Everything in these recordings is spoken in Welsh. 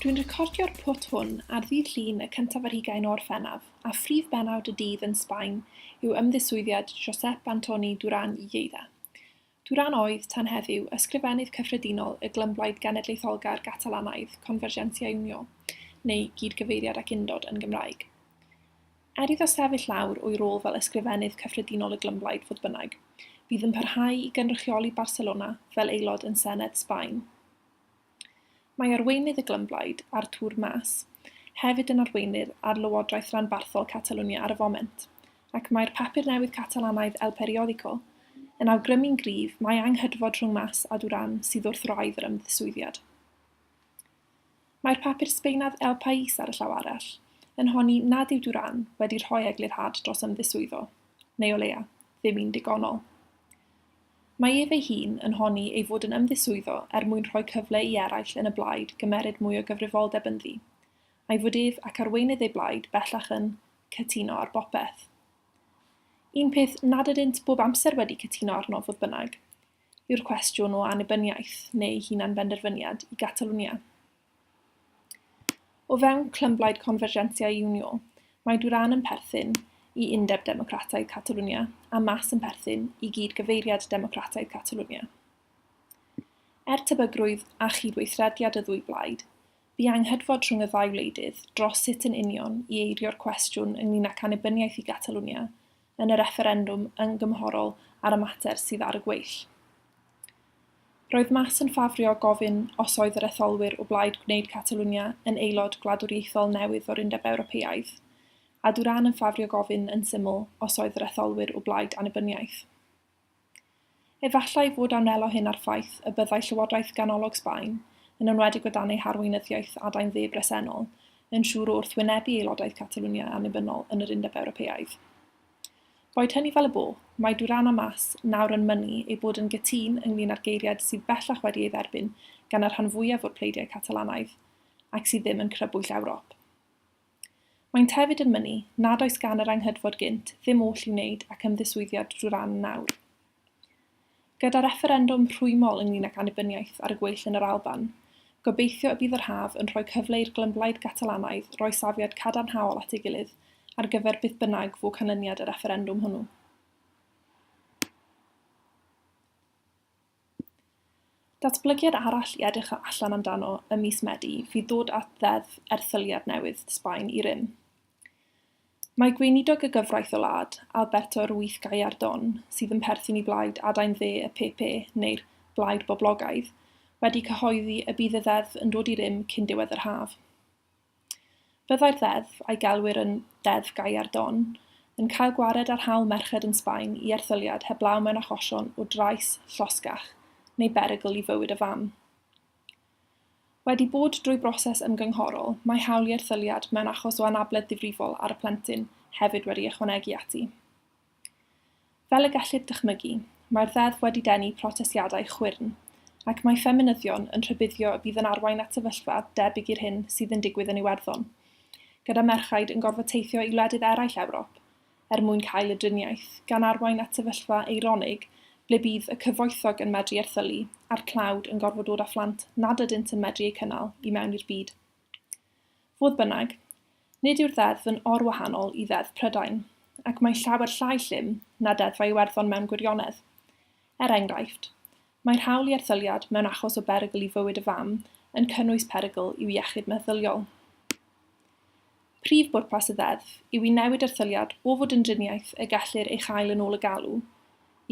Dwi'n recordio'r pwt hwn ar ddydd Llun y cyntaf ar hugain o Orffennaf. a phrif bennawd y dydd yn Sbaen yw ymddiswyddiad Josep Antoni Duran i Lleida. Duran oedd, tan heddiw, Ysgrifennydd Cyffredinol y Glymblaid Genedlaetholgar Gatalanaidd Convergència i Unió, neu Gyd-gyfeiriad ac Undod yn Gymraeg. Er iddo sefyll lawr o'i rôl fel Ysgrifennydd Cyffredinol y Glymblaid, fodd bynnag, bydd yn parhau i gynrychioli Barcelona fel aelod yn Senedd Sbaen. Mae arweinydd y Glymblaid, Artur Mas, hefyd yn arweinydd ar lywodraeth ranbarthol Catalwnia ar y foment, ac mae'r papur newydd Catalanaidd El Periódico yn awgrymu'n gryf mai anghydfod rhwng Mas a Duran sydd wrth wraidd yr ymddiswyddiad. Mae'r papur Sbaenaidd El País, ar y llaw arall, yn honni nad yw Duran wedi rhoi eglurhad dros ymddiswyddo, neu o leia, ddim un digonol. Mae ef ei hun yn honni ei fod yn ymddiswyddo er mwyn rhoi cyfle i eraill yn y blaid gymeryd mwy o gyfrifoldeb ynddi, a'i fod ef ac arweinydd ei blaid bellach yn 'cytuno ar bopeth'. Un peth nad ydynt bob amser wedi cytuno arno, fodd bynnag, yw'r cwestiwn o annibyniaeth neu hunanbenderfyniad i Gatalwnia. O fewn clymblaid Convergencia i Unió, mae Duran yn perthyn i Undeb Democrataidd Catalwnia a Mas yn perthyn i Gyd-gyfeiriad Democrataidd Catalwnia. Er tebygrwydd a chydweithrediad y ddwy blaid, bu anghydfod rhwng y ddau wleidydd dros sut yn union i eirio'r cwestiwn ynglŷn ag annibyniaeth i Gatalwnia yn y refferendwm ymgymhorol ar y mater sydd ar y gweill. Roedd Mas yn ffafrio gofyn os oedd yr etholwyr o blaid gwneud Catalwnia yn aelod gwladwriaethol newydd o'r Undeb Ewropeaidd, a Duran yn ffafrio gofyn yn syml os oedd yr etholwyr o blaid annibyniaeth. Efallai fod awnelo hyn â'r ffaith y byddai llywodraeth ganolog Sbaen, yn enwedig o dan ei harweinyddiaeth adain dde bresennol, yn siŵr o wrthwynebu aelodaeth Catalwnia annibynnol yn yr Undeb Ewropeaidd. Boed hynny fel y bo, mae Duran a Mas nawr yn mynnu eu bod yn gytûn ynglŷn â'r geiriad sydd bellach wedi ei dderbyn gan y rhan fwyaf o'r pleidiau Catalanaidd ac sydd ddim yn crybwyll Ewrop. Maent hefyd yn mynnu nad oes gan yr Anghydfod gynt ddim oll i'w wneud ac ymddiswyddiad Duran nawr. Gyda refferendwm rhwymol ynglŷn ac annibyniaeth ar y gweill yn yr Alban, gobeithio y bydd yr haf yn rhoi cyfle i'r glymblaid Gatalanaidd roi safiad cadarnhaol at ei gilydd ar gyfer beth bynnag fu canlyniad y refferendwm hwnnw. Datblygiad arall i edrych allan amdano ym mis Medi fydd dod â Ddeddf Erthyliad newydd Sbaen i rym. Mae Gweinidog y Gyfraith y wlad, Alberto Ruiz Gallardón, sydd yn perthyn i blaid adain dde y PP, neu'r Blaid Boblogaidd, wedi cyhoeddi y bydd y ddeddf yn dod i rym cyn diwedd yr haf. Byddai'r ddeddf, a'i gelwir yn 'Deddf Gallardón', yn cael gwared ar hawl merched yn Sbaen i erthyliad heblaw mewn achosion o drais, llosgach neu berygl i fywyd y fam. Wedi bod drwy broses ymgynghorol, mae hawl i erthyliad mewn achos o anabledd difrifol ar y plentyn hefyd wedi ychwanegu ati. Fel y gellid dychmygu, mae'r Ddeddf wedi denu protestiadau chwyrn, ac mae ffeminyddion yn rhybuddio y bydd yn arwain at sefyllfa debyg i'r hyn sydd yn digwydd yn Iwerddon, gyda merchaid yn gorfod teithio i wledydd eraill Ewrop er mwyn cael y driniaeth, gan arwain at sefyllfa eironig ble bydd y cyfoethog yn medru erthylu a'r tlawd yn gorfod dod â phlant nad ydynt yn medru eu cynnal i mewn i'r byd Fodd bynnag, nid yw'r ddeddf yn or-wahanol i Ddeddf Prydain, ac mae llawer llai llym na Deddfau Iwerddon mewn gwirionedd. Er enghraifft, mae'r hawl i erthyliad mewn achos o berygl i fywyd y fam yn cynnwys perygl i'w iechyd meddyliol. Prif bwrpas y ddeddf yw i newid erthyliad o fod yn driniaeth y gellir ei chael yn ôl y galw,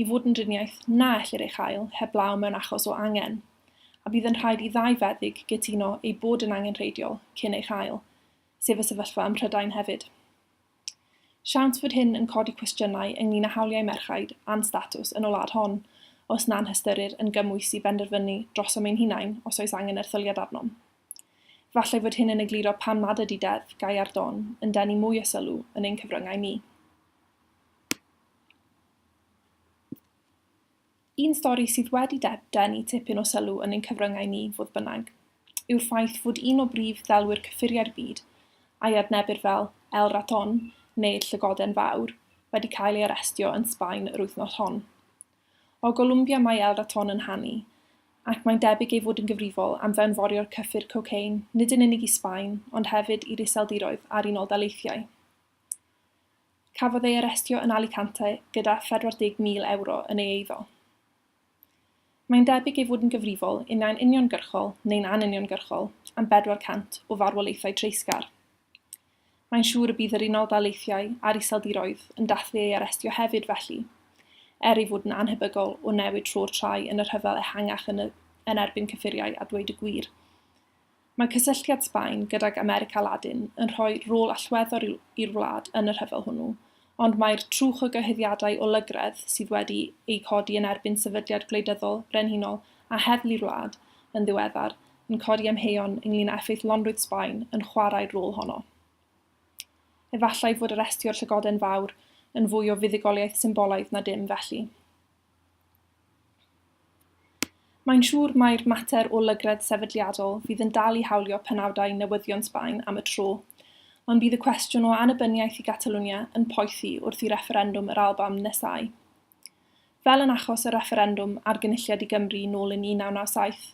i fod yn driniaeth na ellir ei chael heblaw mewn achos o angen, a bydd yn rhaid i ddau feddyg gytuno ei bod yn angenrheidiol cyn ei chael, sef y sefyllfa ym Mhrydain hefyd. Siawns fod hyn yn codi cwestiynau ynglŷn â hawliau merchaid a'n statws yn y wlad hon, os na'n hystyrir yn gymwys i benderfynu drosom ein hunain os oes angen erthyliad arnom. Efallai fod hyn yn egluro pam nad ydy deddf gau ar don yn denu mwy o sylw yn ein cyfryngau ni. Un stori sydd wedi denu tipyn o sylw yn ein cyfryngau ni, fodd bynnag, yw'r ffaith fod un o brif ddelwyr cyffuriau'r byd, a'i adnebir fel El Raton neu'r Llygoden Fawr, wedi cael ei arestio yn Sbaen yr wythnos hon. O Golumbia mae El Raton yn hanu, ac mae'n debyg ei fod yn gyfrifol am fewnforio'r cyffur cocaine nid yn unig i Sbaen ond hefyd i'r Iseldiroedd a'r Unol Daleithiau. Cafodd ei arestio yn Alicante gyda 40,000 ewro yn ei eiddo. Mae'n debyg ei fod yn gyfrifol, unau'n uniongyrchol neu'n anuniongyrchol, am 400 o farwolaethau treisgar. Mae'n siŵr y bydd yr Unol Daleithiau a'r Iseldiroedd yn dathlu ei arestio hefyd felly, er ei fod yn annhebygol o newid tro'r trai yn y rhyfel ehangach yn y yn erbyn cyffuriau a dweud y gwir. Mae cysylltiad Sbaen gydag America Ladin yn rhoi rôl allweddol i'r wlad yn y rhyfel hwnnw, ond mae'r trwch o gyhuddiadau o lygredd sydd wedi eu codi yn erbyn sefydliad gwleidyddol brenhinol a heddlu'r wlad yn ddiweddar yn codi amheuon ynglŷn â effeithlonrwydd Sbaen yn chwarae'r rôl honno. Efallai fod arestio'r Llygoden Fawr yn fwy o fuddugoliaeth symbolaidd na dim felly. Mae'n siŵr mai'r mater o lygredd sefydliadol fydd yn dal i hawlio penawdau newyddion Sbaen am y tro, ond bydd y cwestiwn o annibyniaeth i Gatalwnia yn poethi wrth i refferendwm yr Alban nesáu. Fel yn achos y refferendwm ar Gynulliad i Gymru nôl yn 1997,